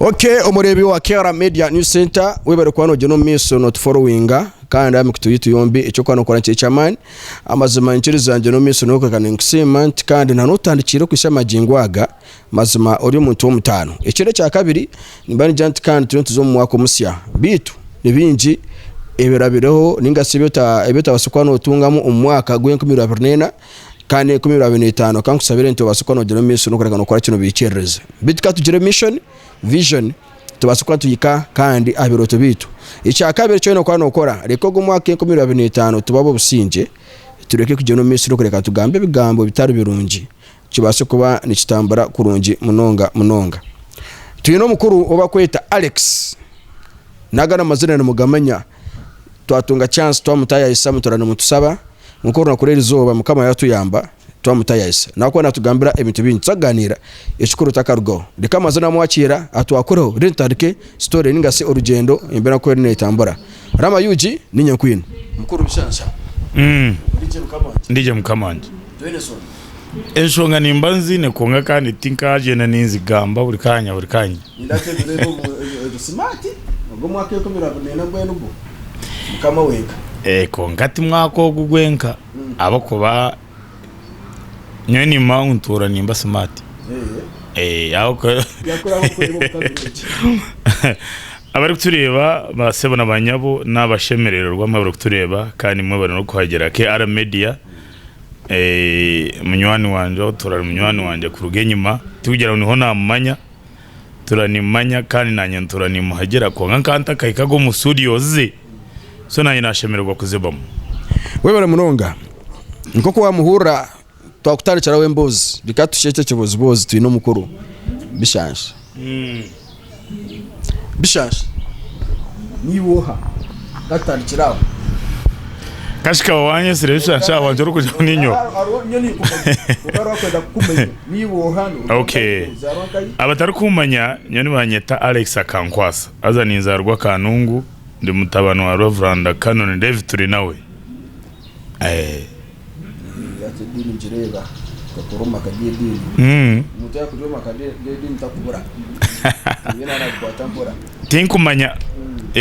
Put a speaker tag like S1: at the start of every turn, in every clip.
S1: ok omureebi wa kera media new center webare kuba nogyenda omu maisho notuforowinga kandi aha mikutu yaitu yombi ekyokuba nokora nikyo eky'amaani amazima nikirizangye n'omumaisho nokureeba ninkusiima nti kandi nanotandikire okuhitsya magingo aga Mazima ori omuntu w'omutaano. Ekiro ekya kabiri nimba nigira nti kandi turiyo nituza omu mwaka omusya. Beitu ni bingi ebirabireho ninga shi ebi otabaasa kuba notungamu omu mwaka gwa enkumi ibiri abiri na ena kandi enkumi ibiri abiri na etaano. Ka nkushabire nti obaase kuba nogira omu maisho n'okureeka nokora kye nobihikiiririza. Beitu ka tugire mission, vision, tubaase kuba nituhika kandi aha birooto byeitu. Ekya kabiri eki oyine kuba nokora, reeka ogu omwaka gwa enkumi ibiri abiri na etaano tuba ab'obusingye, tureke kugyenda omu maisho n'okureeka nitugambe ebigambo ebitari birungi kibaase kuba nikitambura kurungi munonga munonga. Twine omukuru ou barikweta Alex, naga n'amazina nimugamanya, twatunga chance twamutayayisa mutura nimutusaba kwonka orunaku rw'erizooba Mukama yatuyamba twamutayayisa nahabw'okuba natugambira ebintu bingi tuza kugaaniira ekikuru takarugaho. Reka amazina amwakiira atwakureho reero tutandike story ninga shi orugyendo embeera oku eriyo neetambura. Rama ug niinye nkwine. Mukuru nshansha. Murigye mukama wangye. Ndigye
S2: mukama wangye. Twine soni. Enshonga nimba nziine kwonka kandi tinkagyenda ninzigamba buri kaanya buri kaanya.
S1: Kwonka ti
S2: mwaka ogu gwenka ahabw'okuba nyowe nimba ntuura nimba smart. Abarikutureeba ba sebo na ba nyabo n'abashemerererwa mwe abarikutureeba kandi mwe bari n'okuhagira KR Media Munywani wangye ou turaari munywani wangye kuruga enyima tikugira ngu niho naamumanya, turaari nimumanya kandi naanye ntuura nimuhagira kwonka nkaba ntakahikaga omu studios ze so naanye naashemererwa kuzibamu. Webare
S1: munonga nk'oku wamuhurira twakutandikiraho emboozi reka tushushe eki ekiboozi boozi twine omukuru bishaansha. Bishaashi. Niiwe oha? Ndatandikira aho.
S2: Kashi kaba wanyesire bishaashi aho wangye orikugira ngu ninyowe. Hariho hariho nyowe ninkumanya. Kwonka hariho akwenda kukumanya. Niiwe oha? Noruga Okay. nkahi? Ozaarwa nkahi? Abatarikummanya nyowe nibanyeta Alex Akankwasa haza ninzaarwa Kanungu ndi mutabani wa Reverend Canon David Turinawe. Eh.
S1: Tinkumanya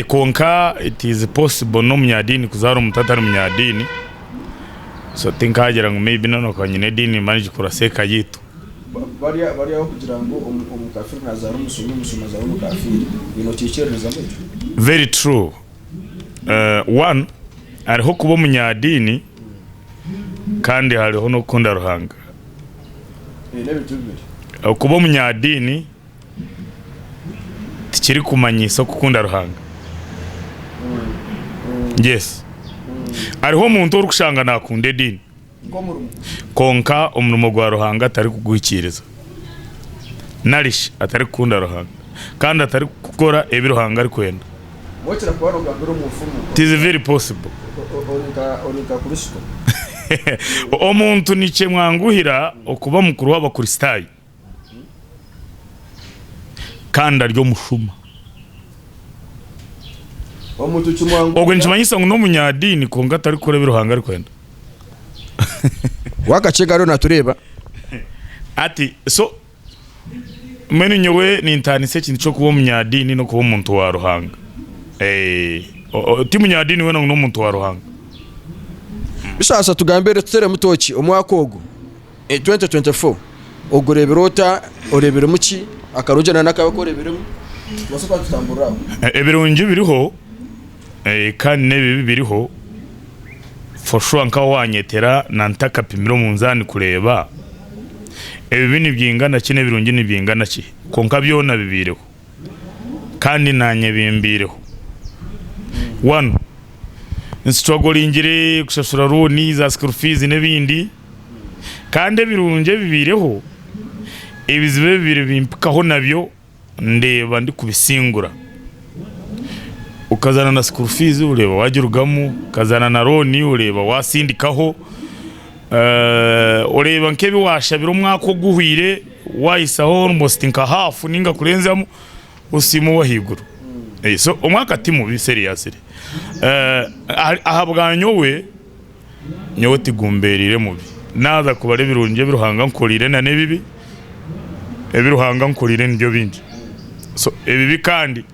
S2: kwonka it is possible n'omunyadiini kuzaara omuntu atari munyadiini so tinkagira ngu may be nanu akaba aine ediini mba ningikora ngu eka yaitu.
S1: Very true.
S2: One, hariho kuba omunyadiini kandi hariho n'okukunda Ruhanga. Okuba omunyadiini tikirikumanyisa okukunda Ruhanga. Yes, hariho omuntu orikushanga nakunda ediini. Kwonka omurimo gwa Ruhanga atarikuguhikiiriza, nari shi atarikukunda Ruhanga, kandi atarikukora ebi Ruhanga arikwenda,
S1: it is very possible.
S2: Omuntu nikimwanguhira okuba mukuru w'Abakristaayo. kandi ari omushuma.
S1: Ogwe nikimanyisa ngu
S2: n'omunyadiini kwonka atarikukora ebi Ruhanga arikwenda.
S1: Wakacega ariyo natureeba.
S2: Ati so mbwenu nyowe nintaanisa ekintu ky'okuba omunyadiini n'okuba omuntu wa Ruhanga. Eeh ti munyadiini weena ngu n'omuntu wa Ruhanga.
S1: Bishasha tugambe retuteremu tooki omwaka ogu 2024 ogureebire ota? Oreebiremu ki? Akarungi na n'akabi aku oreebiremu nobaasa kuba nitutamburiraho. Ebirungi biriho
S2: kandi n'ebibi biriho for sure nkaho wanyetera na ntakapimire omunzaani kureeba ebibi nibyingana ki n'ebirungi nibyingana ki kwonka byona bibaireho kandi naanye bimbaireho. One, nsituragolingire kushashura rooni, za school fees n'ebindi. Kandi ebirungi ebibaireho, ebizibu ebibaire bimpikaho nabyo ndeeba ndikubisingura. Okazaana na school fees oreeba wagirugamu, okazaana na loan oreeba watsindikaho, oreeba nk'ebi waashabire omwaka oguhweire wahisaho almost nka half ninga kurenzamu osiima owahaiguru. So omwaka timubi seriously. Ahabwanyowe Nyowe tigumbeereire mubi, naaza kubara ebirungi ebi Ruhanga ankoreire na n'ebibi, ebi Ruhanga ankoreire nibyo bingi. So ebibi kandi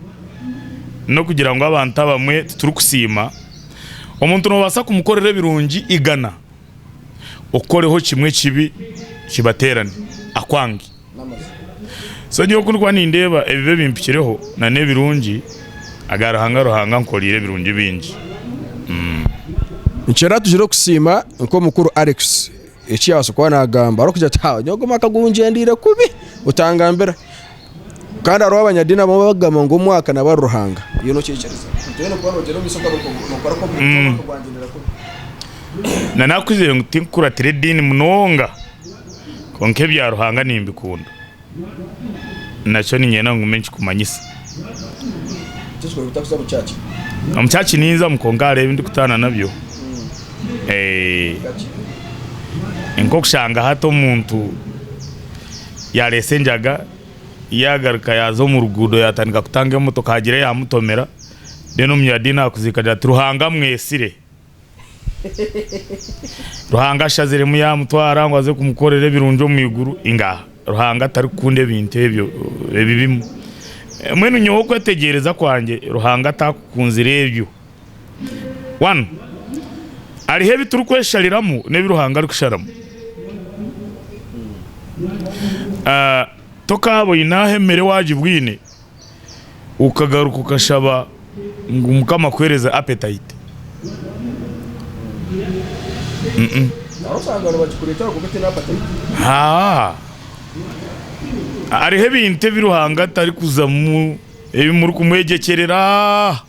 S2: n'okugira ngu abantu abamwe titurikusiima, omuntu noobaasa kumukorera ebirungi igana, okukoreho kimwe ekibi kibateerane akwange. So nyowe kunkuba nindeeba ebibi ebimpikireho na n'ebirungi aga Ruhanga Ruhanga ankoreire ebirungi bingi umm.
S1: Nikyoratugire okusiima nk'omukuru Alex ekiyabaasa kuba nagamba orikugira oti haa nyowe ogu mwaka gungyendeire kubi otangambira kandi hariho abanyadiini abamwe abakugamba ngu omwaka naba ari Ruhanga iwe nokyekiriza? Na
S2: nakuzire ngu tinkukuratira ediini munonga Kwonka ebya Ruhanga nimbikunda, nakyo niinyenda ngume nkikumanyisa.
S1: Omu kyaki
S2: ninzamu kwonka hariho ebi ndikutaana nabyo. Ni nk'okushanga hati omuntu yaareetsa enjaga, yaagaruka yaaza omu ruguuto yaatandika kutanga emotoka haagira eyaamutomera, reero omuyadiini akuziika agira ati, Ruhanga amwetsire! Ruhanga ashaziremu yaamutwara ngu aze kumukorera ebirungi omu iguru? Ingaha! Ruhanga tarikukunda ebintu ebyo ebibimu. Mbwenu nyowe okwetegyereza kwangye, Ruhanga taakukunzire ebyo. One, Hariho ebi turikweshariramu n'ebi Ruhanga arikusharamu. Tokaaba oine aho emere waagibwine. okagaruka okashaba ngu mukama akuhereze appetite hariho ebintu ebi ruhanga atarikuzamu ebi murikumwegyekyerera.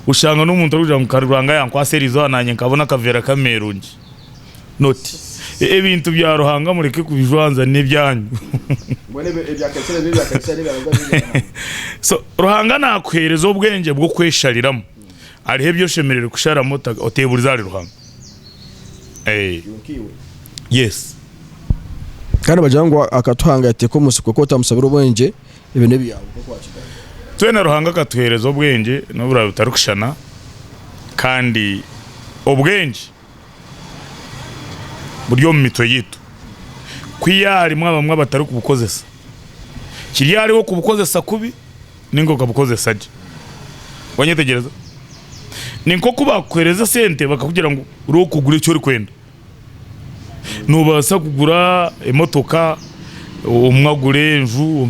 S2: Oshanga n'omuntu arikugira ngu ka Ruhanga yankwasa erizooba naanye nkabona akaveera k'ameerungi. Not. Ebintu bya Ruhanga mureke kubijwanza n'ebyanyu. So Ruhanga naakuheereza obwengye bw'okweshariramu. Hariho ebi oshemereire kusharamu oteeburize ahari Ruhanga. Yes.
S1: Kandi nibagira ngu akatuhangatira omu nsiko ku otamushabire obwengye. Ebyo n'ebyawe nk'oku wakigambire. Twena Ruhanga
S2: akatuheereza obwengye n'oburaabe butarikushushana kandi obwengye buri omu mitwe yaitu. Ku yaaba harimu abamwe abatarikubukozesa, kiri ahariwe okubukozesa kubi nainga okabukozesa gye. Wanyetegyereza? Ni nk'oku baakuheereza esente bakakugira ngu reero kugura eki orikwenda. Noobaasa kugura emotoka, omwe agure enju,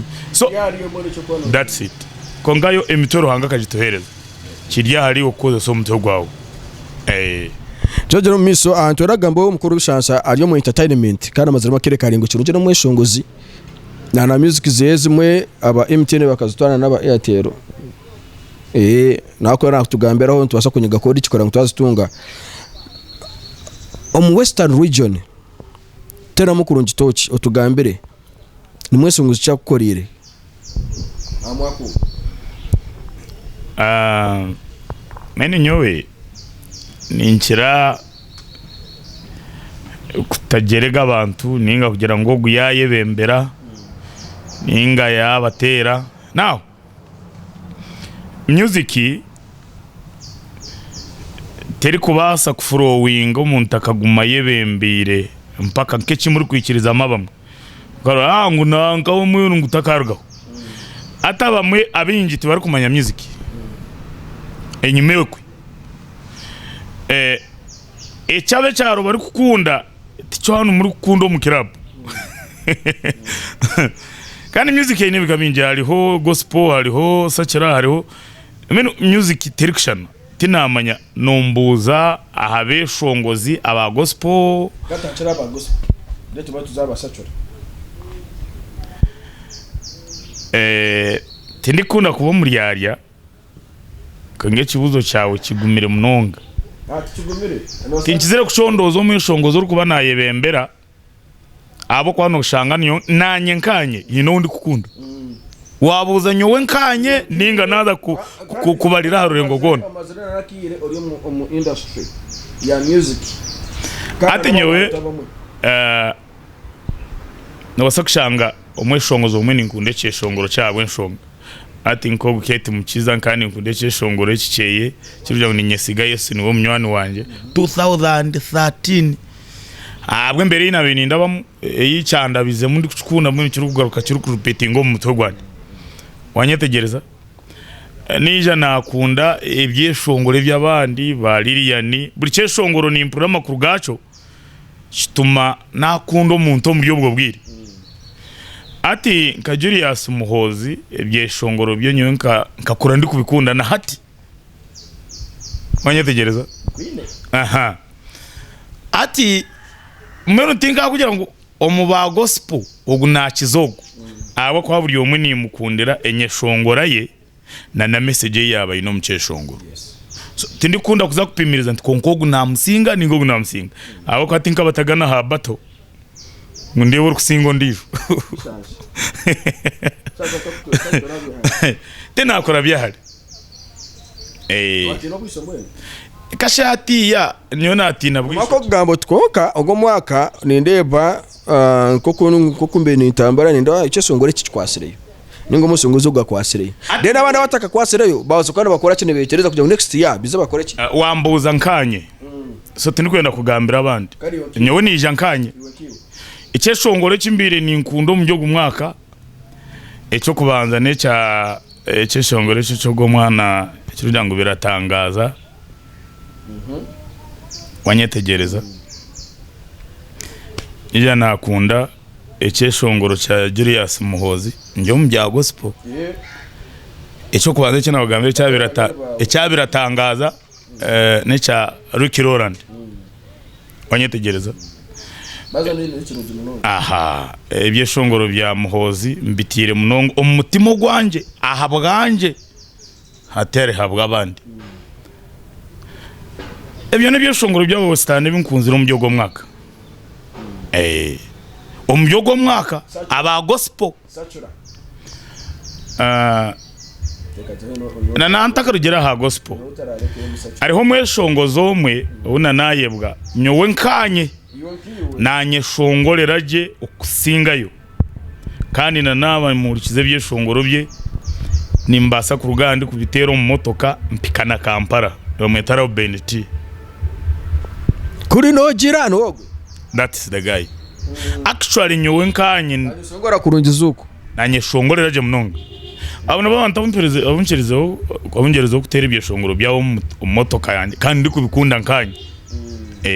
S2: kwonka yo emitwe Ruhanga akagituheereza kiri ahari iwe kukoresa omutwe gwawe. Twegyera
S1: omu maisho, nitworagamba omukuru w'ebishansha ari omu entertainment kandi amaziremu akaire karaingwa kirungi n'omweshongozi na music zeye ezimwe aba MTN bakazitwara nana aba Airtel. Naaku orenda kutugambiraho nitubaasa kunyiga koodu ki kugira ngu twazitunga? Omu western region teeramu kurungi tooki otugambire nimwo enshungu zikyakukoreire aha mwaka
S2: ogu. Mbwenu nyowe ninkira kutagyerega abantu ninga kugira ngu ogu yaayebembera ninga yaabateera. Music terikubaasa kuflowinga omuntu akagumayo ebembeire mpaka nk'eki murikwikirizamu abamwe. Ahaa ngu nanka omwiru ngu takarugaho. Hati abamwe abaingi tibarikumanya music enyima okwe. Ekyaaba ekyaro barikukunda. Tichwanu muri kukunda omu club Kandi music eine ebika bingi hariho gospel hariho secular hariho mbwenu music terikushushana tinamanya nombuuza aha beshongozi aba gospel Tindikukunda kuba omuryarya. Kwonka ekibuuzo kyawe kigumire munonga. Tinkizire kucondooza omweshongozi orikuba naayebembera ahabw'okuba nooshanga niyo naanye nkaanye nyine ou ndikukunda. Waabuuza nyowe nkaanye nainga naaza kukubarira aha rurengo rwona.
S1: Hati
S2: nyowe. Nobaasa kushanga omweshongozi omwe ninkunda ekyeshongoro kye ahabw'enshonga hati nk'obu Kate Mukiza nkaba ninkunda ekyeshongoro eki kyeye ekirikugira ngu niinyesiga Yesu niwe munywani wangye 2013. Ahabw'embeera ei naabaire nindabamu ei kyandabizemu ndikukikunda mbwenu kirikugaruka kirikurepeatinga omu mutwe gwangye. Waanyetegyereza? Naija naakunda ebyeshongoro eby'abandi ba Lilian, buri kyeshongoro nimpurira amakuru gaakyo. kituma nakunda omuntu omuri obwo bwire. Hati nka Julius Muhoozi ebyeshongoro bye nyowe nkakura ndikubikunda na hati. Wanyetegyereza? Hati mbwenu tinkakugira ngu omu ba Gospel ogu nakiza ogu ahabw'okuba buri omwe nimukundira enyeshongora ye. na na message ei yaaba aine omu kyeshongoro. So tindikukunda kuza kupimiriza nti kwonka ogu namusinga ninga ogu namusinga ahabw'okuba tinkabatagana aha battle ngu ndeebe orikusinga ondijo. Tinakora byahare. Kasha hatiiya nyowe natiina bwire. Omwaka okugamba oti kwonka
S1: ogu omwaka nindeeba nk'oku nk'oku mbaire nintambura nindeeba ekyeshongoro eki kikwatsireyo. ninga omushunguzi ogu akwatsireyo then abandi abatakakwatsireyo babaasa kuba nibakoraki nibetereza kugira ngu next year bize bakoreki. Wambuuza nkaanye
S2: so tindikwenda kugambira abandi nyowe niija nkaanye ekyeshongoro eki mbaire ninkunda omuri ogu mwaaka ekyokubanza nekya ekyeshongoro eki ekyogu omwaana ekirikugira ngu biratangaaza wanyetegyereza ningira nakunda Ekyeshongoro kya Julius Muhoozi ndi omu bya gospel, eky'okubanza eki naabagambira ekya biratangaaza n'ekya Ricky Roland, wanyetegyereza. Ebyeshongoro bya Muhoozi mbitaire munonga omu mutima ogwangye, aha bwangye. hatari habw'abandi. Ebyo n'ebyeshongoro by'Abawesterani ebi nkunzire omuri ogwo mwaka. Omuri ogwo mwaka aba Gospel na nantakarugireho aha Gospel, hariho omweshongozi omwe ou na nayebwa nyowe nkaanye nanyeshongorera gye okusingayo. kandi na naaba nimuhurikiza ebyeshongoro bye nimubaasa kuruga aha ndi kubiteera omu motoka mpika na Kampala nibamweta Reuben T. Kuri
S1: nogira nogwe. That's the guy.
S2: Actually nyowe nkanye Shongora kurungi
S1: zuku. nanyeshongorera gye
S2: munonga abo nabo abantu abumpereze- abunkirizeho abungyerezeho kuteera ebyeshongoro byabo omu mut- omu motoka yangye kandi ndikubikunda nkanye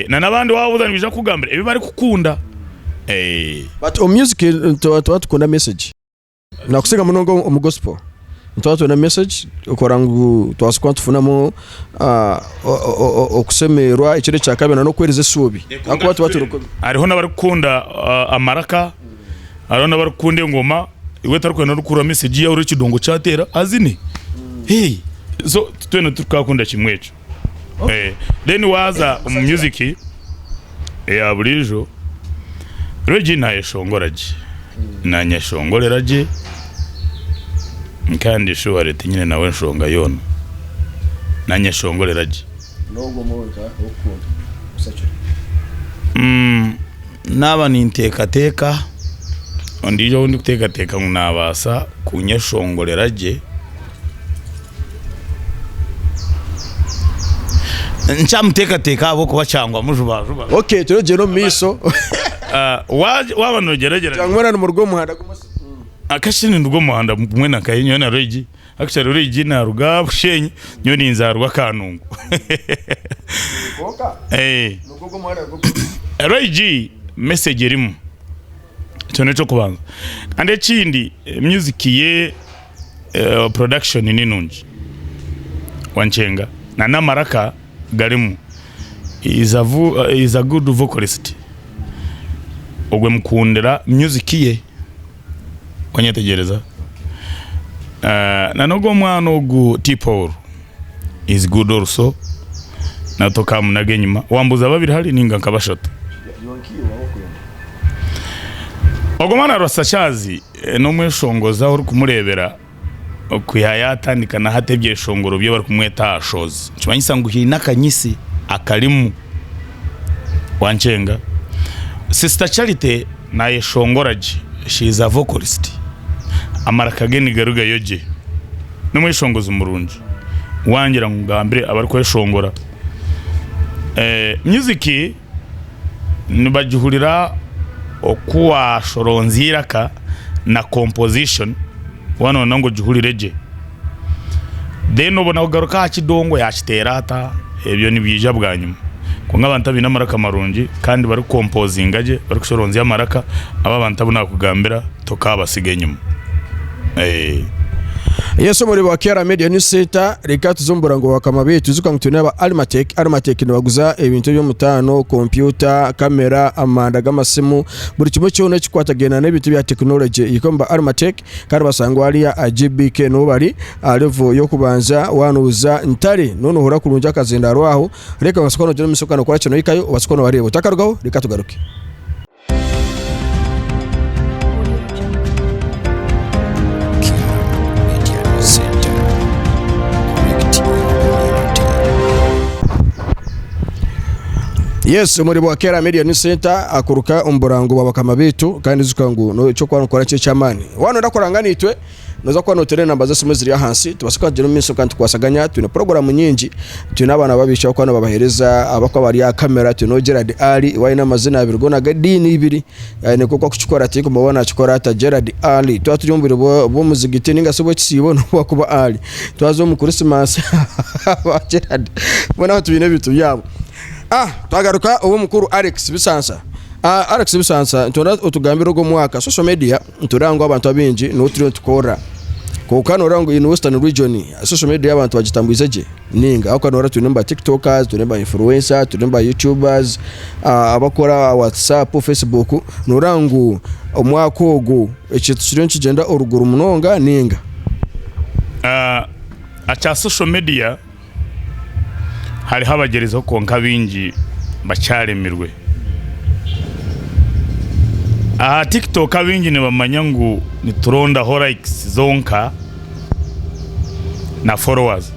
S2: Nanabandi wabuza nibaija kukugambira ebi bari kukunda.
S1: But omu music nituba tukunda message nakusinga munonga omu gospel nituba twenda message kora ngu tubaase kuba nitufunamu okusemererwa ekindi ekyakabiri nokweriza esuubi ahakuba tuba turi kubi. Hariho nabari kukunda
S2: amaraka, hariho nabari kukunda engoma, iwe tari kwenda ori kuhurira message yahurira ekidongo kyateera azine so twena tituka kunda kimwe ekyo. Then waaza omu music eya buriijo, Regi naayeshongora gye, naanyeshongorera gye kandi shuwari tinyine nawe nshonga yoona, naanyeshongorera gye. Naaba ninteekateeka ondiijo ou ndikuteekateeka ngu naabaasa kunyeshongorera gye. Nkyamuteekateeka ahabw'okuba kyangwa mujubajuba. Ok turikugyenda omu
S1: maisho.
S2: Waaba noogyeragyeranya. Kyangwa mwena nimuruga omu
S1: muhanda gumwe? Actually ninduga
S2: omu muhanda gumwe na Kaye, nyowe na Roigi. Actually Roigi naaruga Bushenyi, nyowe ninza aha rwa Kanungu. Kwonka?
S1: Eeh. Nigwo gwo muhanda nigwo gumwe?
S2: Roigi message erimu. Ekyo n'eky'okubanza. Kandi ekindi music ye. production ninungi wankyenga na namaraka garimu is a good vocalist ogwe mukundira music ye wanyetegyereza na nogu omwana ogu T Paul is good also na tokamunaga enyuma wambuza babiri hare ninga nka bashatu ogu omwana arasashazi. N'omweshongozi ahu orikumureebera ku yaayatandika na hati ebyeshongoro bye barikumweta aha shozi nikimanyisa ngu haine akanyitsi akarimu. Wankyenga? Sisita Charity naayeshongora gye. She is a vocalist. Amaraka ge nigarugayo gye. N'omweshongozi murungi. Wangira ngu ngambire abarikweshongora. Myuziki. nibagihurira oku waashoronza eiraka na composition waaba nooyenda ngu ogihurire gye. Then obone kugaruka aha kidongo yaakiteera ata, ebyo nibiija bwanyima. Kwonka abantu abaine amaraka marungi kandi barikumpozinga gye, barikushoronzya amaraka, abo abantu abu naakugambira tokaabasiga enyima.
S1: Eh. Yes omuri ba Kera Media News Center reka tuze omubura ngo bakama betu zuka ngu twine aba Almatech Almatech nibaguza ebintu eby'omutaano kompyuta kamera amanda g'amasimu buri kimwe kyona ekikwatagaine n'ebintu bya technology yiko omu ba Almatech kandi basangwa hariya aha GBK niho bari aha level y'okubanza wanuuza ntare noona ohurira kurungi akazindaaro aho reka obaase kuba noogira omu maisho kandi okora kye nohikayo obaase kuba nobareeba otakarugaho reka tugaruke. Yes, omuri bwa Kera Media News Center akuruka omu burango bwa bakama baitu kandi zuka ngu no ekyo kwa nokora kye kyamani. Wano ndakora ngana itwe Noza kuba noteera enamba z'esimu eziri ahansi, tubaasa kuba tugire omu maisho kandi tukwasaganya, twine puroguramu nyingi, twine abaana b'abaishiki abakuba nibabaheereza, abakuba bari aha kamera, twine ou Gerald Ali, ou aine amazina abiri goona g'ediini ibiri, aine nk'oku arikukikora tindikureeba ou naakikora ata, Gerald Ali. Twaba turi omu bwire bw'omuzigiti nainga shi obw'ekisiibo n'obu arikuba ari, twaza omu Kurisimasi aba Gerald boona aba twine ebintu byabo. Twagaruka ow'omukuru Alex Bisansa, Alex Bisansa nitwenda otugambire ogu omwaka social media. Nitureeba ngu abantu abaingi niho turiyo nitukorera. Kwonka nooreeba ngu in Western Region social media abantu bagitambuize gye? Ninga. Ahabw'okuba nooreeba twinemu ba Tiktokers, twinemu ba Influencers, twinemu ba Youtubers, abakora aha WhatsApp, Facebook. Nooreeba ngu omwaka ogu ekintu kiriyo nikigyenda oruguru munonga ninga? Aha
S2: kya social media. Hariho abagyereizeho kwonka baingi bakyaremirwe. Aha tiktok abaingi nibamanya ngu niturondaho likes zonka na followers.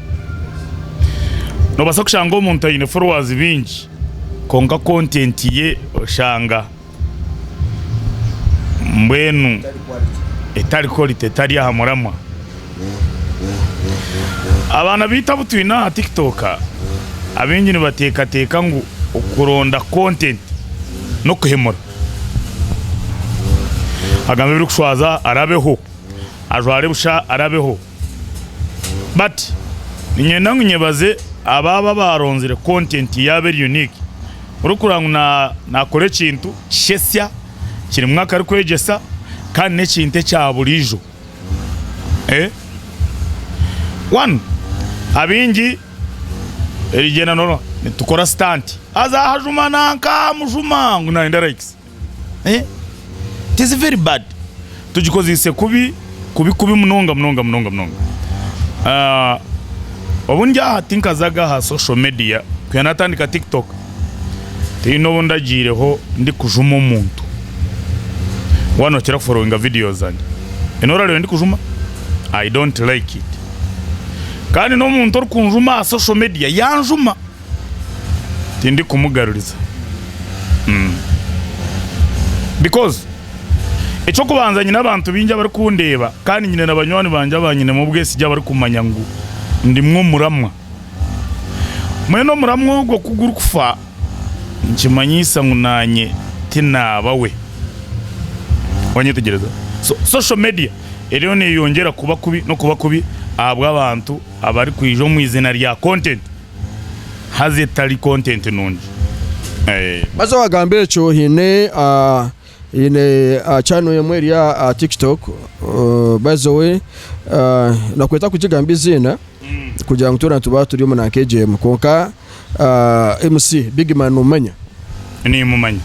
S2: Nobaasa kushanga omuntu aine followers baingi kwonka content ye oshanga. Mbwenu etari quality etari aha muramwa. Abaana baitu abu twine aha tiktok abaingi nibateekateeka ngu okuronda content n'okuhemura. Agambe ebirikushwaza arabeho, ajware busha arabeho. But niinyenda ngu nyebaze abo aba abaaronzire content yaaba eri unique. Orikurora ngu naakora ekintu kishetsya, kirimu akarikwegyesa kandi n'ekintu ekyaburiijo. One, abaingi erigyenda noorora nitukora stunt, haza hajuma nanka mujuma ngu naayenda likes. Tiziri very bad, tugikozise kubi kubi kubi munonga munonga munonga munonga. Obu ndi aha tinkazaga aha social media, kuhika natandika tiktok tihine obu ndagiireho ndikujuma omuntu, mbwenu nokira kuforowinga video zangye, nyowe noba orareba ndikujuma, I don't like it. Kandi nomuntu orikunjuma aha social media yanjuma. tindikumugaruriza because eky'okubanza nyine abantu baingi abarikundeeba kandi nyine na banywani bangye abanyinemu obwesigye abarikumanya ngu ndimu omuramwa mbwenu omuramwa ogwo ku gurikufa nikimanyisa ngu naanye tinaaba we wanyetegyereza so social media eriyo neyongyera kuba kubi n'okuba kubi ahabw'abantu abarikwija omu izina rya content. haza etari content nungi eeh.
S1: Baza wagamba ekyo haine haine channel emwe eri aha tiktok by the way nakweta kugigamba eiziina kugira ngu twena nituba turi omu nanka egyo emwe kwonka MC big man nomumanya? Nimumanya.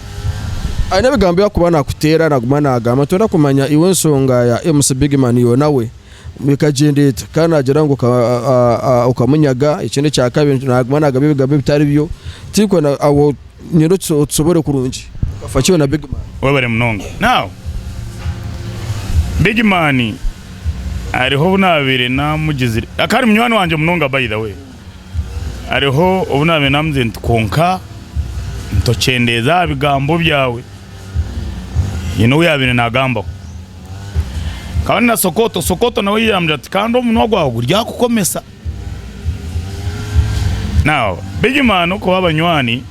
S2: Haine
S1: ebigambo ebi akuba nakuteera naguma nagamba ntoyenda kumanya iwe ensonga ya MC big man yoona we Bikagyenda ita? Ka naagira ngu okamunyaga, ekyo n'ekya kabiri, naaguma naagamba ebigambo ebitari byo, tihikwe aho nyine otusobore kurungi. Okafa ki yoona Big Man? Webare munonga.
S2: Now, Big Man hariho obu naabaire naamugizire, akaba ari munywani wangye munonga by the way, hariho obu naabaire naamugizire nti kwonka tokyendeeza aha bigambo byawe, hiine ou yaabaire naagambaho. Kandi na Sokoto, Sokoto nawe yayeyambyire ati kandi omunwa gwawe guryakukomesa. Now, big man okuha abanywani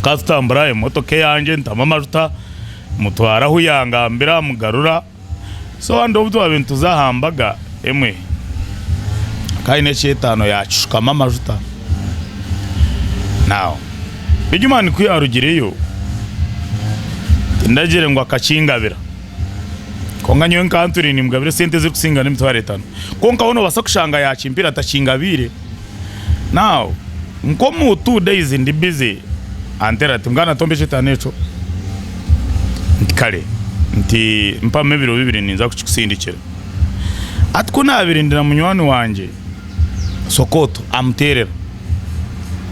S2: twatutambura emotoka eyangye ntamu amajuta mutwara ahu yangambira mugarura So hati obu twabaire nituza aha mbaga emwe, hakaba haine eky'etaano yaakishukamu amajuta. Now, Bigimani ku yaarugireyo, tindagire ngu akakingabira, kwonka nyowe nkaba ntwire niimugabira esente ezirikusinga n'emitwaro etaano. Kwonka hoo noobaasa kushanga yaakimpaire atakingabiire. Now nkomu two days ndi busy antera ati mbwenu atomba ekitaano ekyo nti kare nti mpamu ebiro bibiri ninza kukikusindikira ati kunabire ndi na munywani wangye Sokoto amuterera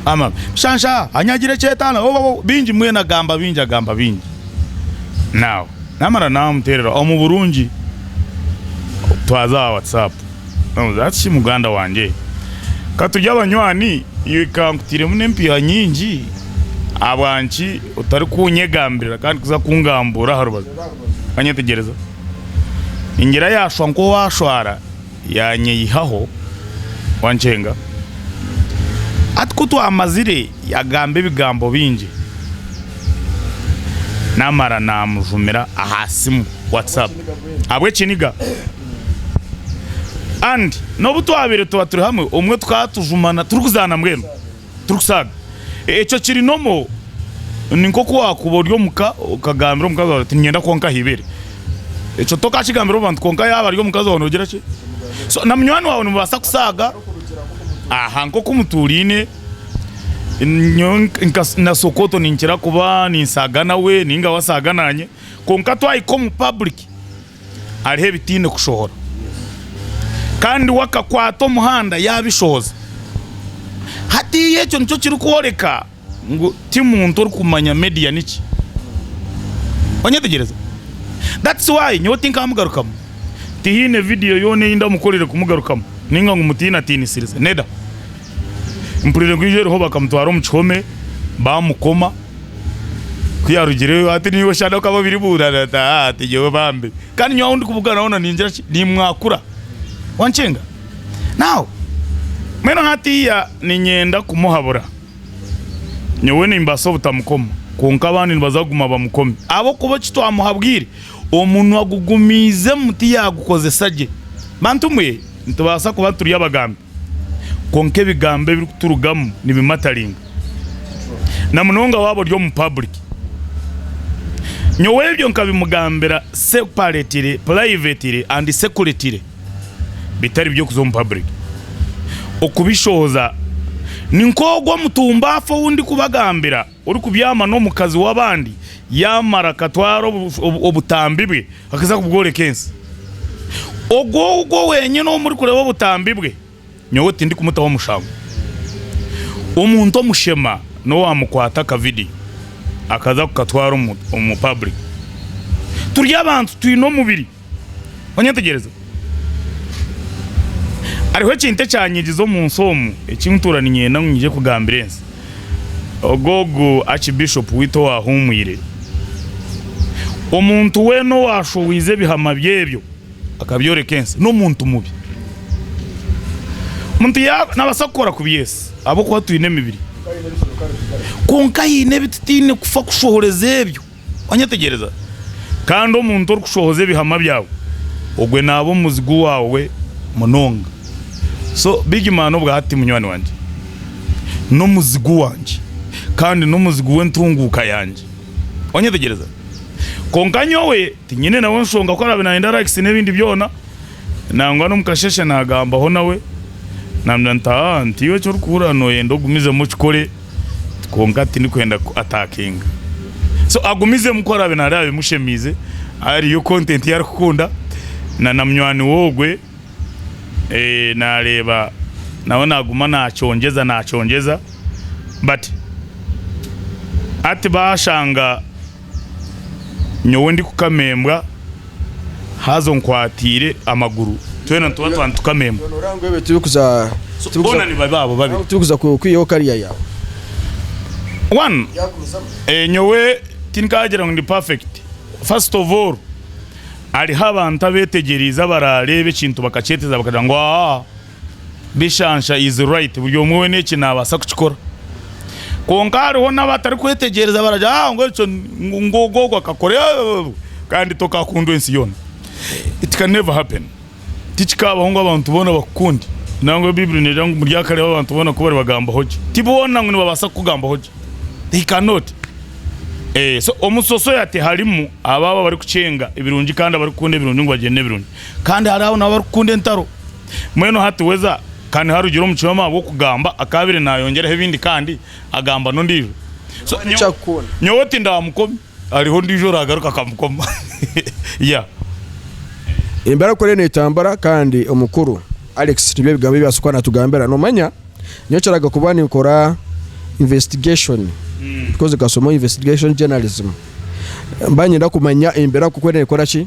S2: amam shansha anyagira ekyetaano obobobo bingi mbwenu agamba bingi agamba bingi now namara namuterera omu burungi twaza aha WhatsApp. Oh that's shi muganda wangye ka turye abanywani iwe ka nkutairemu n'empiiha nyingi ahabwanki otarikunyegambirira kandi kuza kungambuura aha rubaju kanyetegyereza ningira yashwa nk'owaashwara yaanyeihaho wankyenga hati ku twamazire yagamba ebigambo bingi naamara naamujumira aha siimu, WhatsApp, ahabw'ekiniga. And nobu twabire tuba turi hamwe obumwe tukaba tujumana turikuzaana mbwenu turikusaaga ekyo kiri normal ninkoku wakuba ori omuka okagambira omukazi wawe oti ninyenda kwonka aha ibere ekyo tokakigambira omubantu kwonka yaba ari omukazi wawe nogira ki so na munywani wawe nimubasa kusaaga aha nkoku muturiine nyowe nka na sokoto ninkira kuba ninsaaga nawe ninga we asaaga nanye kwonka twahika omu public hariho ebitaine kushohora. Kandi we akakwata omuhanda yaabishohoza. Hatiiya ekyo nikyo kirikworeka ngu ti muntu orikumanya media niki. Onyetegyereza? That's why nyowe tinkamugarukamu. Tihaine vidiyo yoona ei ndamukorire kumugarukamu nainga ngu mutiinatiinisirize. Neda. Mpurire ngu enju eriho bakamutwara omu kihome, baamukoma. Ku yaarugireyo ati, Niiwe shana okaba obiribuurana? Ati, Haa, tinyowe bambi. Kandi nyowe ahu ndikubugaana hoona ningira ki? Nimwakura. Wankinga? Now, mbwenu hatiiya niinyenda kumuhabura. Nyowe nimbaasa obutamukoma, kwonka abandi nibaza kuguma bamukomi. Ahabw'okuba eki twamuhabwire, omunwa gugumiizemu tiyaagukozesa gye. Bantumwe, nitubaasa kuba turi abagambi. kwonka ebigambo ebirikuturugamu nibimataringa, na munonga waaba ori omu public. Nyowe ebyo nkabimugambira separetire, purayivetire andi sekuritire bitari by'okuza omu public okubishooza. Ni nk'ogu omutumba afa ou ndikubagambira. Orikubyama n'omukazi w'abandi yaamara akatwara obutambi bwe akaza kubworeka ensi, ogwo ogwo wenyine ou murikureeba obutambi bwe, nyowe tindikumutaho mushango. Omuntu omushema n'owaamukwata akavidiyo akaza kukatwara omu, omu public. Turi abantu, twine omubiri. Onyetegyereza? Hariho ekintu ekyanyigiza omu nsi omu eki ntuura niinyenda ngu nyije kugambira ensi. Ogwo ogu Archbishop waitu owaahuumwire, omuntu weena owaashohoize ebihama bye ebyo akabyoreka ensi, n'omuntu mubi. Omuntu yaaba, naabaasa kukora kubi yesi, ahabw'okuba twine emibiri. Kwonka haine ebi tutaine kufa kushohoreza ebyo. Wanyetegyereza? Kandi omuntu orikushohoza ebihamwa byawe, ogwe naaba omuzigu waawe munonga. So, big man obwa hati munywani wangye, n'omuzigu wangye, kandi n'omuzigu w'entunguuka yangye. Wanyetegyereza? Kwonka nyowe tinyine nawe nshonga ku araabe naayenda likes n'ebindi byona, nangwa n'omu kasheeshe naagambaho nawe, naamubwira nti, Haa, nti iwe eki orikuhurira nooyenda ogumizemu okikore. kwonka tindikwenda ku attackinga so agumizemu ku araabe nareeba bimushemiize hariyo content ei arikukunda na na munywani we ogwe nareeba nawe naguma nacongyeza nacongyeza but hati bashanga nyowe ndikukama embwa haza onkwatiire amaguru twena nituba tuba nitukama embwa. Boona ni babi abo babiri.
S1: One,
S2: nyowe tinkaagira ngu ndi perfect. First of all, hariho abantu abeetegyereize abaraareeba ekintu bakakyeteeza bakagira ngu aa. Bishansha is right buri omwe wena eki nabasa kukikora kwonka hariho naba atari kwetegyereza baragira ngu ngu ekyo ngu ogu ogu akakora eehh kandi tokakundwa ensi yona it can never happen tikikabaho ngu abantu bona bakukunde nangwa baiburi negira ngu muryakareeba abantu bona kubari bagambaho gye ti bona ngu nibabasa kukugambaho gye they cannot so omu society harimu abo abari kukyenga ebirungi kandi abari kukunda ebirungi ngu bagyende ebirungi kandi hariho nabo abari kukunda entaro. Mbwenu hati weza ka niharugire omu kioma ahabw'okugamba akaabaire naayongyeraho ebindi kandi agamba n'ondiijo. So nyowe nyowe tindaamukomi, hariho ondiijo oraagaruka akamukoma. Yeah.
S1: Embeera ku eriyo neetambura kandi omukuru Alex nibyo ebigambo ebi asokuba naatugambira. Noomanya nyowe kiraga kuba ninkora investigation because nkasomaho investigation journalism. Mba niinyenda kumanya embeera ku ku eriyo neekora ki.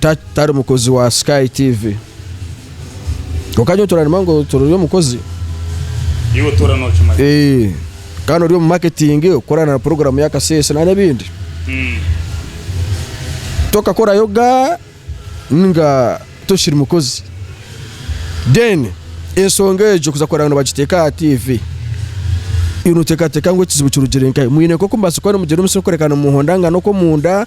S1: Ta, tari mukozi wa Sky TV. Kwonka nyowe turarima ngu turi omukozi. Iwe
S2: otoora nookimanya. Eeh, kandi ori
S1: omu marketing, okukorana na puroguramu ya Kasese nari ebindi. Mm. Tokakorayo ga ninga tokiri mukozi. Then, ensonga egyo kuza kureba nibagiteeka aha TV, iwe nooteekateeka ngu ekizibu kirugire nkahe? Mwine nk'oku mubaasa kuba nimugira omutsyo gw'okworeka ngu nimuhondangana okw'omunda,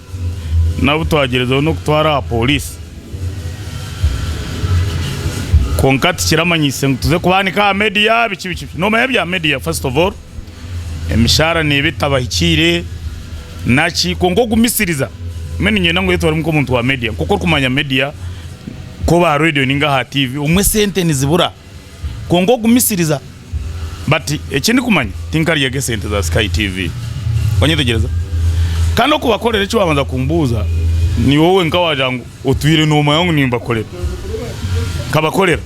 S2: n'abu twagyerezeho n'okutwara aha pooriisi kwonka tikiramanyiise ngu tuze kubaanika aha meediya biki biki. Noomanya ebya meediya fasiti ovu oolu? Emishaara neeba etabahikiire naki kwonka okumisiriza mbwenu niinyenda ngu oyetware nk'omuntu wa meediya nk'oku orikumanya meediya nk'owa reediyo nainga aha tiivi obumwe sente nizibura. Kwonka ogumisiriza bati eki ndikumanya tinkaryaga esente za sky TV wanyetegyereza Kandi okubakorera eki wabanza kumbuuza niwowe wenka wagira ngu otwiire nomanya ngu nimbakorera nkabakorera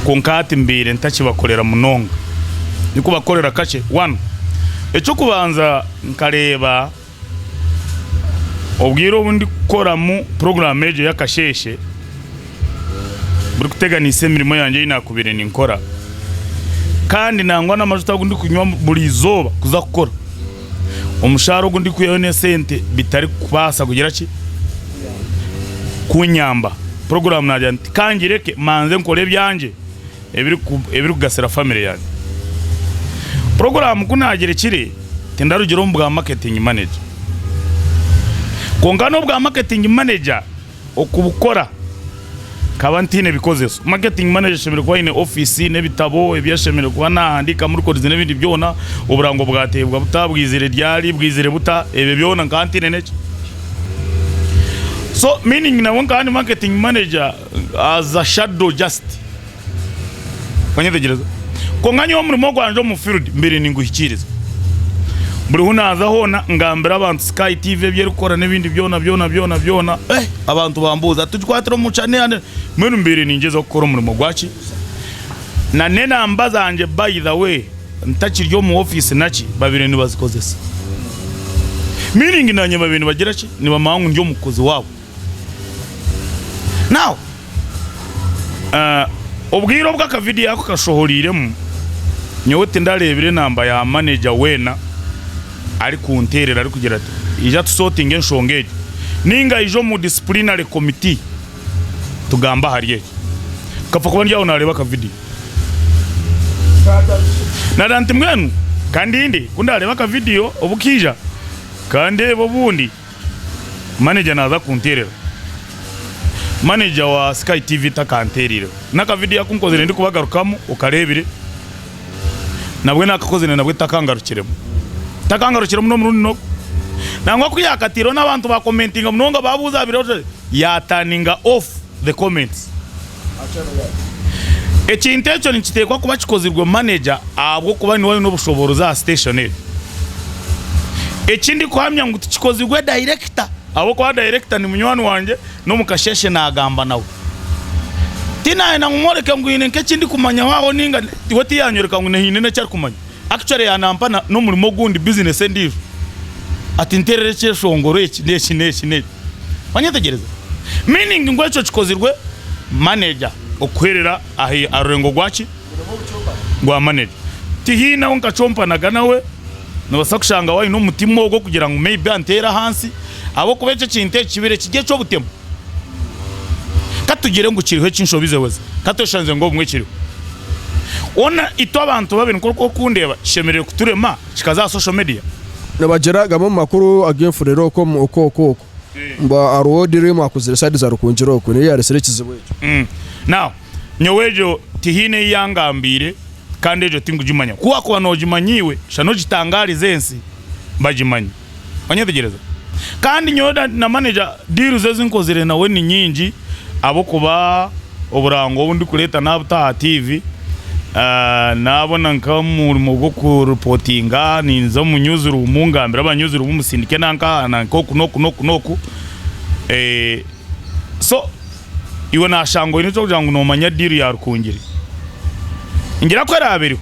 S2: kwonka hati mbaire ntakibakorera munonga ndikubakorera kakye One ekyokubanza nkareeba Obwire obu ndikukoramu puroguraamu egyo ey'akasheeshe, burikuteganisa emirimo yangye ei naakubaire ninkora kandi nangwa n'amajuta agu ndikunywa buri izooba kuza kukora. Omushaara ogu ndikwihayo n'esente bitarikubaasa kugira ki, kunyamba. Puroguraamu naagira nti kangireke manze nkore ebyangye. ebirikugasira famire yange. Puroguraamu ku naagyerekire, tindarugira omu bwa maketingi maneja. Kwonka n'obwa maketingi maneja okubukora nkaba ntaine bikozeso. Maketingi maneja ashemereire kuba aine ofiisi n'ebitabo ebi ashemereire kuba naahandiikamu rikodizi n'ebindi byona, oburango bwateebwa buta, bwizire ryari, bwizire buta, ebyo byona nkaba ntaine n'ekyo. So miiningi nabwe nkaba ndi maketingi maneja As a shadow just. Wanyetegyereza? Kwonka nyowe omurimo gwangye omu field mbaire ninguhikiiriza. Buri hu naaza hoona ngambira abantu Sky TV ebi erikukora n'ebindi byona byona byona byona. Eh, abantu bambuuza, tugikwatire omu chan yaani? Mbwenu mbaire ningyezaho kukora omurimo gwaki? Na n'enamba zangye by the way ntakiri omu ofiisi naki babaire nibazikozesa. Meaning naanye babaire nibagira ki, nibamanya ngu ndi omukozi waabo. Now, eh, obwire obu aka video ako kashohoreiremu, nyowe tindareebire enamba ya manager weena arikunteerera arikugira ati ija tusotinge enshonga egi, ninga aije omu disciplinary committee tugambe ahari eki. Nkapfa kuba ndi aho nareeba aka video. Nareeba nti mbwenu kandinde ku ndareeba aka video obu kaija, kandeebe obundi. Manager naaza kunteerera. Manager wa Sky TV takanteeriireho. N'aka video aku nkozire ndikubagarukamu okareebire, nabwe naakakozire nabwe takangarukiremu. Takangarukiremu n'omurundi n'ogu. Nangwa ku yaakataireho n'abantu baakomentinga munonga baabuuza aha biro, yaaturninga off the comments. Ekintu ekyo nikiteekwa kuba kikozirwe maneja ahabw'okuba niwe aine obushoboorozi aha siteeshoni egyo. Eki ndikuhamya ngu tikikozirwe dayirekita ahabw'okuba dayirekita ni munywani wangye n'omu kasheeshe naagamba nawe. Tinaayenda ngu mworeke ngu haine nk'eki ndikumanyaho aho nainga we tiyaanyoreka ngu haine n'eki arikumanya. Actually yanampa na n'omurimo ogundi business endijo ati nterera ekyeshongoro eki n'eki n'eki n'eki wanyetegyereza? Meaning ngu ekyo kikozirwe manager okuherera ahi aha rurengo gwaki? Gwa manager. Tihiine ahu nkacompanaga nawe, nobasa kushanga awe ayine omutima ogwo kugira ngu maybe antere ahansi ahabw'okuba ekyo ekintu eki kibire kiri eky'obutemu. Ka tugire ngu kiriho ekinshobize weza. Ka tweshangize ngu obumwe kiriho. Ona itwe abantu babiri nk'oku okundeeba kishemerire kuturema kikaza aha social media? Nibagira gamwe
S1: omu makuru ag'enfurere oku omu oku oku oku. Mbwa hariho odire emwe akuzire side za Rukungiri oku niyo eyaretsire ekizibu ekyo. Now
S2: nyowe egyo tihiine ei yangambiire kandi egyo tingugimanya. Ku wakuba nogimanya iwe shana ogitangaarize ensi bagimanye. Onyetegyereza? Kandi nyowe na manager deal ze ezi nkozire nawe ni nyingi ahabw'okuba oburango obu ndikureeta naabuta aha tiivi, naabona nk'omurimo gw'okuripotinga ninza omu nyuziruumu ngambire aba nyuziruumu musindike nanka aha nanka oku n'oku n'oku n'oku. So iwe naashanga oine eky'okugira ngu noomanya deal ya Rukungiri. Ningira ku eraabe eriho.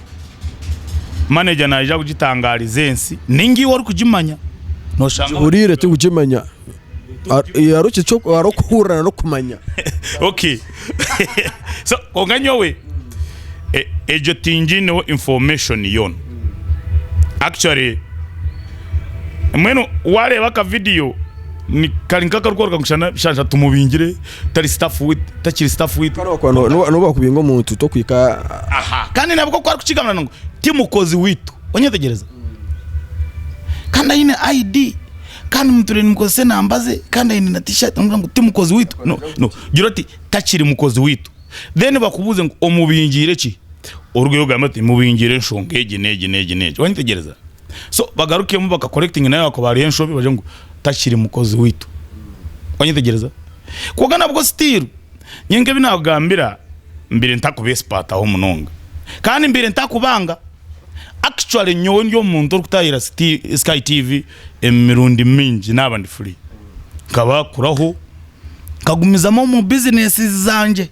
S2: manager naija kugitangariza ensi ninga iwe orikugimanya noshanga Nkihuriire tirikukimanya
S1: hariho okuhurira nari okumanya ok
S2: so kwonka nyowe egyo tingiineho information yoona actually mbwenu wareeba aka video kari nka akarikworeka ngu shana tumubingire. tari staff with takiri staff with Kare wakuba no- no- noba wakubinga
S1: omuntu tokuhika aha kandi nabwo
S2: oku arikukigambira ngu ti mukozi witu onyetegereza kandi aine ID kandi muturire nimukozesa enamba ze kandi aine na t-shirt nimugamba ngu ti mukozi witu no no gira oti takiri mukozi witu then bakubuuze ngu omubingiire ki orugeyo ogambe oti mubingiire enshonga egi n'egi n'egi n'egi wanyetegereza. so bagarukemu baka correcting nawe wakuba hariho enshobi bagire ngu takiri mukozi waitu wanyetegyereza kwonka nabwo still nyowe nkebi nakugambira mbiire ntakubesipataho munonga kandi mbiire ntakubanga actually nyowe ndi omuntu orikutahira siti sky TV emirundi mingi naba ndi free nkabakuraho nkagumizamu omu business zangye.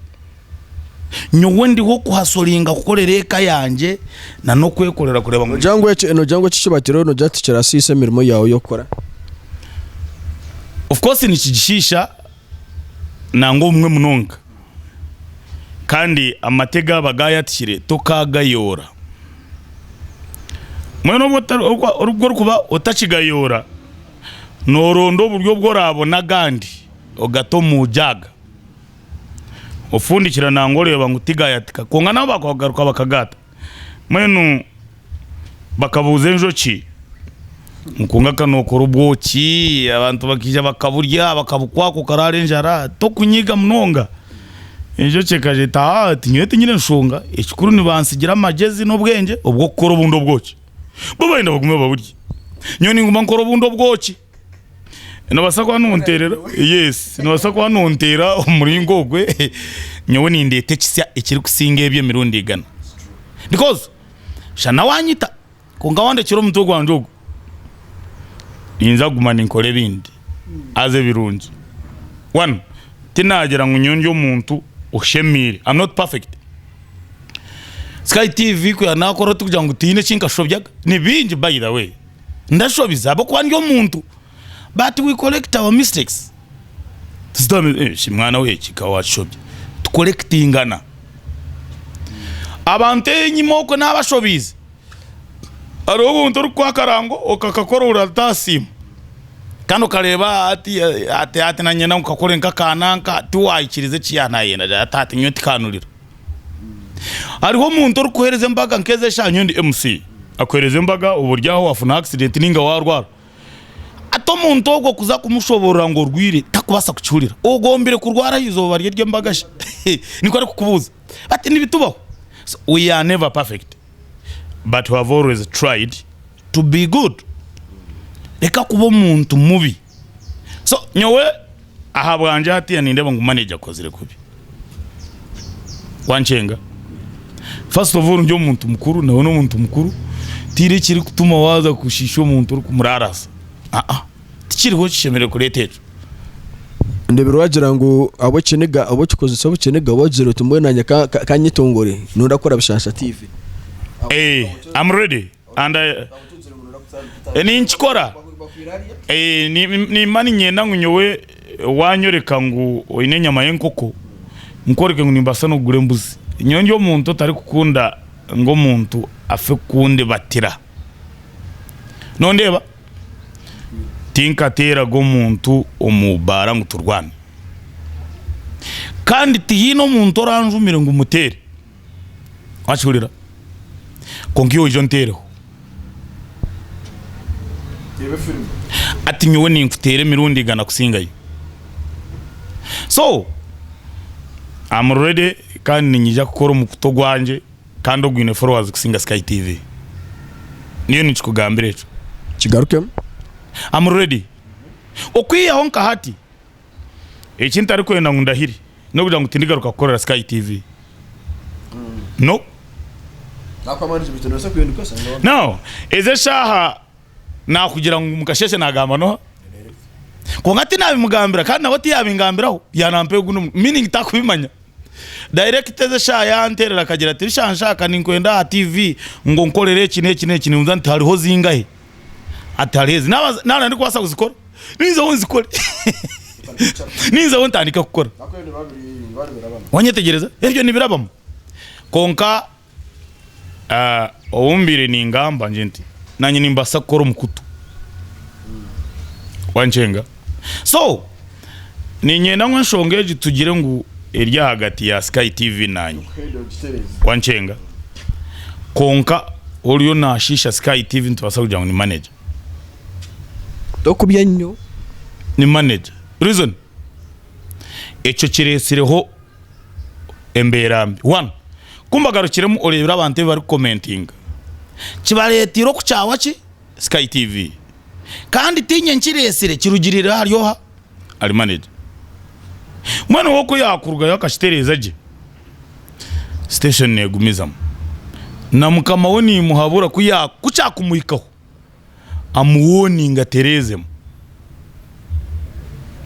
S2: Nyowe ndiho kuhasoringa kukorera eka yangye na n'okwekorera kureeba ngu Nogira ngu eki nogira ngu
S1: eki ekibatireho nogira ngu tikirasiisa emirimo yaawe y'okukora?
S2: Of course nikigishiisha nangwa obumwe munonga kandi amate gaaba gaayatikire tokaagayoora. Mbwenu obu ota- obu obu orikuba otakigayoora nooronda oburyo obu oraabona agandi ogate omu jaaga. ofundikira nangwa oreeba ngu tigayatika kwonka nabo bakwenda kugaruka bakagata mbwenu bakabuuza enjoki ngu ka nokora obwoki abantu bakaija bakaburya bakabukwakwa okaraara enjara tokunyiiga munonga enjoki ekagira eti haa nyowe tinyine nshonga ekikuru nibantsigira amagyezi n'obwengye obwokukora obundi obwoki bo barenda bagume baburye nyowe ninguma nkora obundi obwoki. Nobaasa kuba nonteerera yes nobaasa kuba nonteera omu muringo ogwe nyowe nindeeta ekisya ekirikusinga ebyo emirundi igana because busha nawe anyita kwonka wandekyera omutwe gwangye ogwo ninza kuguma ninkora ebindi haza ebirungi one tinagira ngu nyowe ndi omuntu oshemiire am not perfect sky TV kwiha nakora tikugira ngu tihiine eki nkashobya ni bingi by the way. ndashobize ahabw'okuba ndi omuntu but we correct our mistakes shi mwana we eki ka washobye tu correctingana abantu enyima okwe nabashobiize hariho obuntu orikukuha akarango okakakora oratasiima kandi okareeba ati ati nanye nankakore nk'aka nanka tiwayikiriza eki yanayenda ati nyowe tikanurira. Hariho omuntu orikukuheereza embaga nk'ezi eshaaha nyowe ndi MC. Akuheereza embaga oba ori aho waafuna accident nainga waarwara. Hati omuntu ogwo kuza kumushoboorora ngu orwaire takubaasa kukihurira. Ogombire kurwara aha izooba rye ry'embaga shi? Nikwo arikukubuuza. Hati nibitubaho. So we are never perfect but we have always tried to be good. Reka kuba omuntu mubi. so nyowe ahabwangye hatiya nindeeba ngu manager akozire kubi wankyenga first of all ndi omuntu mukuru nawe n'omuntu mukuru tihaine ekirikutuma waaza kushiisha omuntu orikumuraarasa aa tikiriho kishemereire kureeta ekyo.
S1: Ndeebire waagira ngu ab'okiniga ab'okikozesa obukiniga waagira oti mbwenu naanye ka- ka- kanyetongore noorakora bishaasha tiivi Eeh,
S2: am ready. Ninkikora. Nimba niinyenda ngu nyowe waanyoreka ngu oine enyama y'enkoko, nkworeke ngu nimbaasa n'okugura embuzi. Nyowe ndi omuntu otarikukunda ngu omuntu afe kundibatira. Nondeeba? Tinkateeraga omuntu omu baara ngu turwane. Kandi tihaine omuntu oranjumire ngu muteere. Wakihurira? Kwonka iwe oije onteereho. Hati nyowe ninkuteera emirundi igana kusingayo. So, am ready kandi niinyija kukora omukutu ogwangye kandi ogwine followers kusinga Sky TV. Nyowe ninkikugambira ekyo. Kigarukemu.
S1: Am
S2: ready. Okwihaho nka hati. Eki ntarikwenda ngu ndahire n'okugira ngu tindigaruka kukorera Sky TV. No.
S1: Now, ezi
S2: eshaaha naakugira ngu mukasheeshe naagamba n'oha? Kwonka tinaabimugambira kandi nawe tiyaabingambiraho yaanampa ogu n'omu meaning tarikubimanya. Director ezi eshaaha yaanterera akagira ati, Shansha ka ninkwende aha TV ngu onkorere eki n'eki n'eki, nimbuuza nti hariho zingahe? atareezi naba ndikubaasa kuzikora ninzaho nzikore ninzaho ntandike kukora wanyetegyereza ebyo nibirabamu kwonka ah, obu mbaire ningamba ngyenti nanye nimbaasa kukora omukutu wanikyenga. So niinyenda ngu enshonga egi tugire ngu eri ahagati ya Sky TV naanye. Wankyenga? Kwonka oriyo naashiisha Sky TV nitubaasa kugira ngu ni manager. Tokubya
S1: nnyo. Ni
S2: manager. Reason? Ekyo kireetsireho embeera mbi. One, ku mbagarukiremu oreebire abantu ebi barikukomentinga, kibareeteire okukyaawa ki? Sky TV kandi tiinye nkiretsire kirugirire ahari oha? Ahari maneja. Mbwenu we ku yaakurugayo akakitereeza gye, siteeshoni neegumizamu. Na mukama we niimuhabura ku ya ku kyakumuhikaho amuwooninge atereezemu.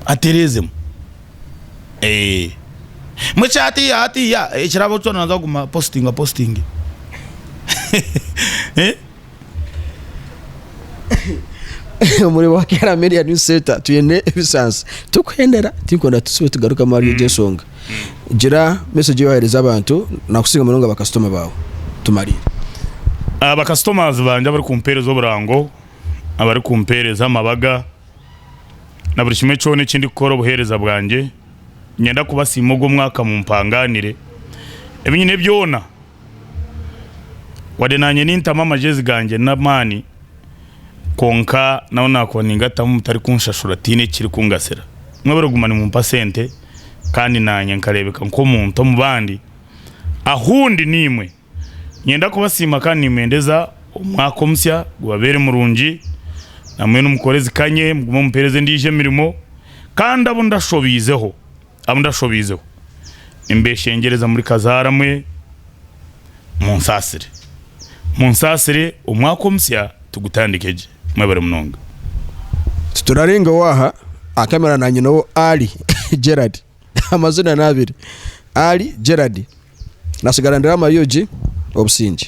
S2: Atereezemu. Eeh. Mbwenu ekya hatiiya hatiiya ekiraabaho kyona naaza kuguma apositinga apositinge.
S1: Omuri Wakiara Media News Center twine ebisaasi tikuhendera turikwenda tusibe tugarukamu ahari egyo ensonga gira message ei wahereza abantu nakusinga munonga bakasitoma baawe tumariire Ah,
S2: Bakasitomazi bangye abarikumpeereza oburango, abarikumpeereza amabaga na buri kimwe kyona eki ndikukora obuheereza bwangye, niinyenda kubasiima ogw'omwaka mumpangaanire ebi nyine byona. Wadde naanye nintamu amagyezi gangye n'amaani kwonka nabo naakuba ningatamu mutari kunshashura tihaine ekiri kungasira. Mwebare kuguma nimumpa sente kandi naanye nkareebeka nk'omuntu omu bandi. Ahu ndi naimwe, niinyenda kubasiima kandi nimbendeza omwaka omusya gubabeere murungi. Namwe nimukora ezikanye mugume mumpeereze endiijo emirimo kandi abu ndashobiizeho, Abu ndashobiizeho nimbeeshengyereza muri kazaara mwe, munsaasire. Munsaasire omwaka omusya tugutandike gye. Mwebare munonga.
S1: Titurarengaho aha, aha kamera na nyina owo Ali Gerald amazina ni abiri Ali Gerald natsigara ndi Ramayogi obusingye.